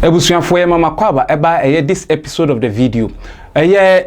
Abusuafoɔ yɛ mama kɔ aba ɛba ɛyɛ this episode of the video ɛyɛ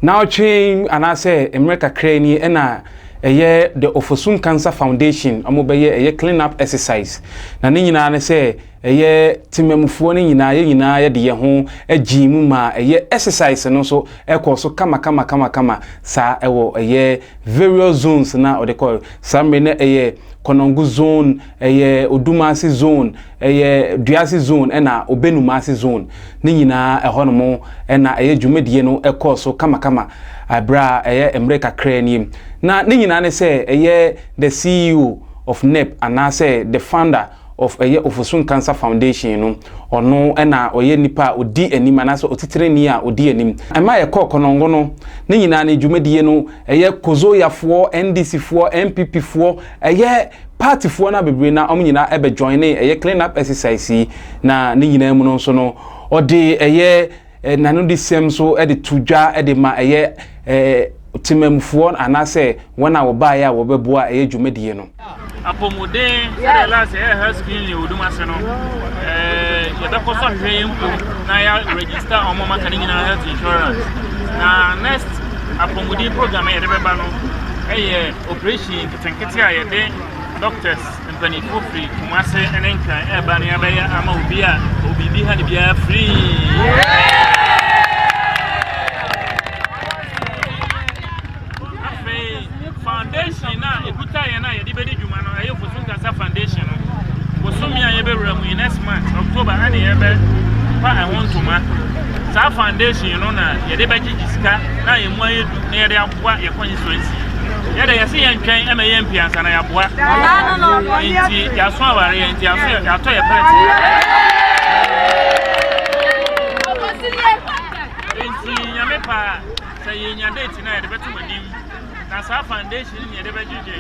naawɔtwe anaasɛ mmerɛ kakra ni ɛna ɛyɛ the Ofosun Cancer Foundation ɔmo bɛyɛ ɛyɛ clean up exercise na ne nyinaa ne sɛ ɛyɛ temamufoɔ no nyinaa yɛ nyinaa yɛde yɛ ho agyee mu ma ɛyɛ exercise no nso ɛkɔɔ so kama kama kama kama saa ɛwɔ ɛyɛ various zones na ɔde kɔɔ saa mmerɛ na ɛyɛ Konongo zone ɛyɛ Odumase zone, ɛyɛ Duase zone ɛna Obenumase zone ne nyinaa ɛhɔ nom ɛna ɛyɛ dwumadie no ɛkɔɔ so kamakama ɛberɛ a ɛyɛ mmerɛ kakraa nie. Na ne nyinaa ne sɛ ɛyɛ the CEO of NEP anaa sɛ the founder of ɛyɛ Ofosun Cancer Foundation no ɔno ɛna ɔyɛ nipa a ɔdi anim anaa sɛ ɔtitirani a ɔdi anim. Ɛma yɛkɔɔ Konongo no ne nyinaa ne dwumadie no ɛyɛ Kozoyafoɔ, NDCfoɔ, NPPfoɔ Ɛyɛ party foɔ no a bebree na wɔn nyinaa ɛbɛ joinee ɛyɛ clean up exercise yi na ne nyinaa mu no nso no ɔde ɛyɛ nanodesɛm nso ɛde to dwa ɛde ma ɛyɛ ɛɛ temamufoɔ anaasɛ wɔn a wɔbaeɛ a wɔbɛboa ɛyɛ dwumadie no. Apɔmuden sɛdeɛ last ɛyɛ health screening yɛ odum ase no ɛɛ yɛbɛkɔ so ahwehwɛ yɛn mpo na yɛ register wɔn a wɔaka ne nyinaa health insurance na next apɔmuden program a yɛde bɛba no ɛyɛ. Oprehyɛn nketenkete a yɛde dɔktɛs mpaninfoɔ firi Kumase ne Nkran ɛreba no yɛabɛyɛ ama obi a ɔwɔ biribi ha ne biara firii. foundation no a ɛkuta yɛn a yɛde bɛdi dwuma no ɛyɛ fosu nkasa foundation no bosome a yɛbɛwura mu yi next month october ɛne yɛbɛpa ɛho ntoma saa foundation no na yɛde bɛgyegye sika na yɛn mu ayɛ du na yɛde boa yɛn constituency. Yɛ dɛ yɛsɛ yɛn twɛn ɛmɛ yɛn mpia nsa na yɛaboa. Nti yɛaso aware yɛn nti yɛaso yɛatɔ yɛ pɛrɛt. Nti nyame paa sɛ yɛnya date na yɛde bɛto m'anim na saa foundation ne yɛde bɛgyegye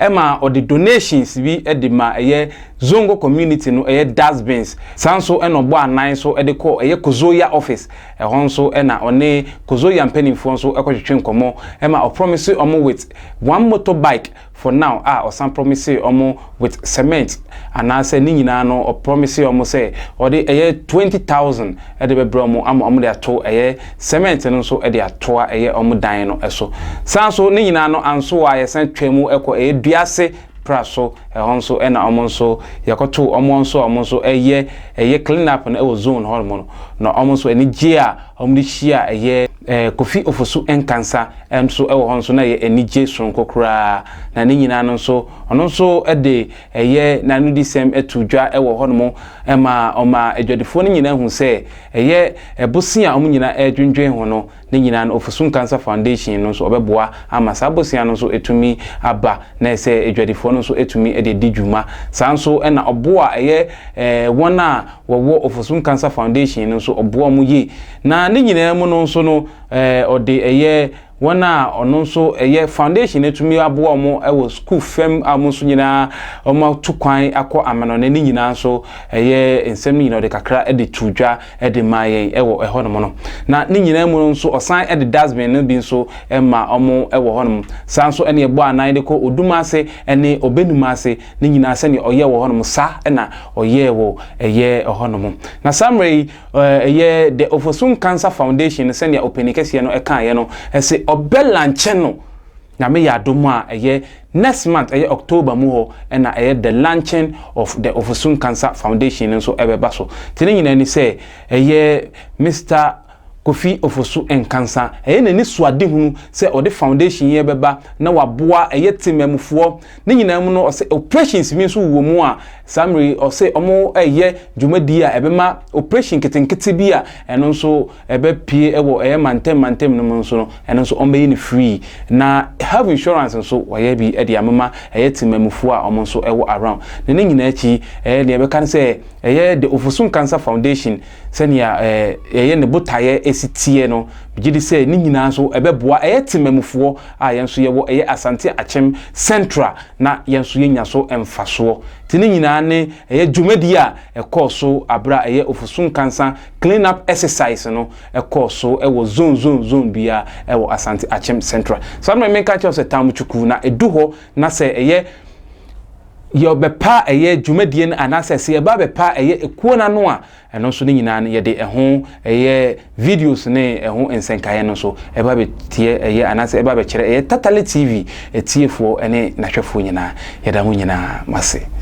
Ɛma ɔde donations bi de ma ɛyɛ Zongo community no ɛyɛ dust bins. Saa nso na ɔbɔ anan so de kɔ ɛyɛ Kozoya office. Ɛhɔ nso na ɔne Kozoya mpaninfoɔ nso kɔtwetwe nkɔmɔ ma ɔpromise wɔn with one motor bike for now a ɔsan promise wɔn with cement anaasɛ ne nyinaa no ɔpromise wɔn sɛ ɔde ɛyɛ twenty thousand de bɛbrɛ wɔn ama wɔde ato ɛyɛ cement no nso de atoa ɛyɛ wɔn dan no so. Saa nso ne nyinaa no anso a yɛsan twaa mu kɔ ɛyɛ dua ase pra so, ɛhɔ nso na wɔn nso yɛkɔtoo wɔn wɔn nso a wɔn nso ɛyɛ ɛyɛ clean up no wɔ zone hɔ nom no. Na wɔn nso anigyeɛ a wɔn de hyia ɛyɛ Kofi Ofosu Nkansa nso wɔ hɔ nso na ɛyɛ anigye soronko koraa. Na ne nyinaa no nso ɔno nso de Ɛyɛ n'anodisɛm too dwa wɔ hɔnom ma ɔmaa adwadifoɔ no nyinaa huu sɛ ɛyɛ bosea a wɔn nyinaa redwendwen ho no ne nyinaa no Ofosu Nkansah Foundation no nso ɔbɛboa ama saa bosea no nso atumi aba na ayɛ sɛ adwadifoɔ no nso atumi de adi dwuma. Saa nso na ɔbo a ɛyɛ wɔn a wɔwɔ Ofosu Nkansah Foundation no nso ɔboa wɔn yie. Na ne nyinaa mu no nso no ɔde ɛyɛ Wɔn a ɔno nso ɛyɛ foundation no atumi aboa wɔn wɔ sukuu fam a wɔn nso nyinaa wɔn atu kwan akɔ amanɔne ne nyinaa nso ɛyɛ nsɛm no nyinaa ɔde kakra de tu dwa de ma yɛn wɔ ɛhɔ nom no na ne nyinaa mu no nso ɔsan de dustbin no bi nso ma wɔn wɔ hɔ nom saa nso ɛne ɛbɔ anan de kɔ odum ase ɛne ɔbɛnum ase ne nyinaa sɛnea ɔyɛ wɔ hɔ nom saa ɛna ɔyɛ wɔ ɛyɛ ɛhɔ nom na saa mmerɛ yi Ɛyɛ The Ofosun Cancer Foundation no sɛnea ɔpanin kɛseɛ no kaeɛ no, ɛse ɔbɛ lankyɛ no Nyame yɛ adom a ɛyɛ next month, ɛyɛ October mu hɔ na ɛyɛ the launching of the Ofosun Cancer Foundation no nso ɛbɛba so. Te ne nyinaa ni sɛ ɛyɛ Mister Kofi Ofosu Nkansa, ɛyɛ n'ani suadehunu sɛ ɔde foundation yi ɛbɛba na waboa ɛyɛ temmamufoɔ Ne nyinaa mu no, ɔse operations bi nso wɔ mu a saa mmerɛ yi ɔse wɔreyɛ dwumadie a ɛbɛma operation nketenkete bi a ɛno nso ɛbɛpue wɔ ɛyɛ mantam mantam no mu nso no, ɛno nso wɔbɛyi no free. Na health insurance nso wɔayɛ bi de amema ɛyɛ temanmufoɔ a wɔn nso wɔ around. Na ne nyinaa akyi, ɛyɛ deɛ yɛbɛka ne sɛ ɛyɛ The Ofosu Nkansah Foundation, Sɛnea yɛyɛ ne botaeɛ si teɛ no, megye di sɛ ne nyinaa nso ɛbɛboa ɛyɛ temmamufoɔ a yɛn nso yɛwɔ ɛyɛ Asante Akyem Central na yɛn nso yɛnya so mfasoɔ. Nti ne nyinaa ne ɛyɛ dwumadie a ɛkɔɔ so berɛ a ɛyɛ Ofosu Nkansa Clean Up Exercise no kɔɔ so wɔ zone zone zone biara wɔ Asante Akyem Central. Saa na me menka nkyerɛ wo sɛ Tamu Chuku na ɛdu hɔ na sɛ ɛyɛ yɛbɛpa ɛyɛ dwumadie no anaasɛ sɛ yɛba bɛpa ɛyɛ ekuo no ano a ɛno nso ne nyinaa no yɛde ɛho ɛyɛ videos ne ɛho nsɛnkaeɛ no nso ɛba bɛteɛ ɛyɛ anaasɛ ɛba bɛkyerɛ ɛyɛ tatale tv ɛtiefoɔ ne n'ahwɛfoɔ nyinaa yɛda mo nyinaa mo ase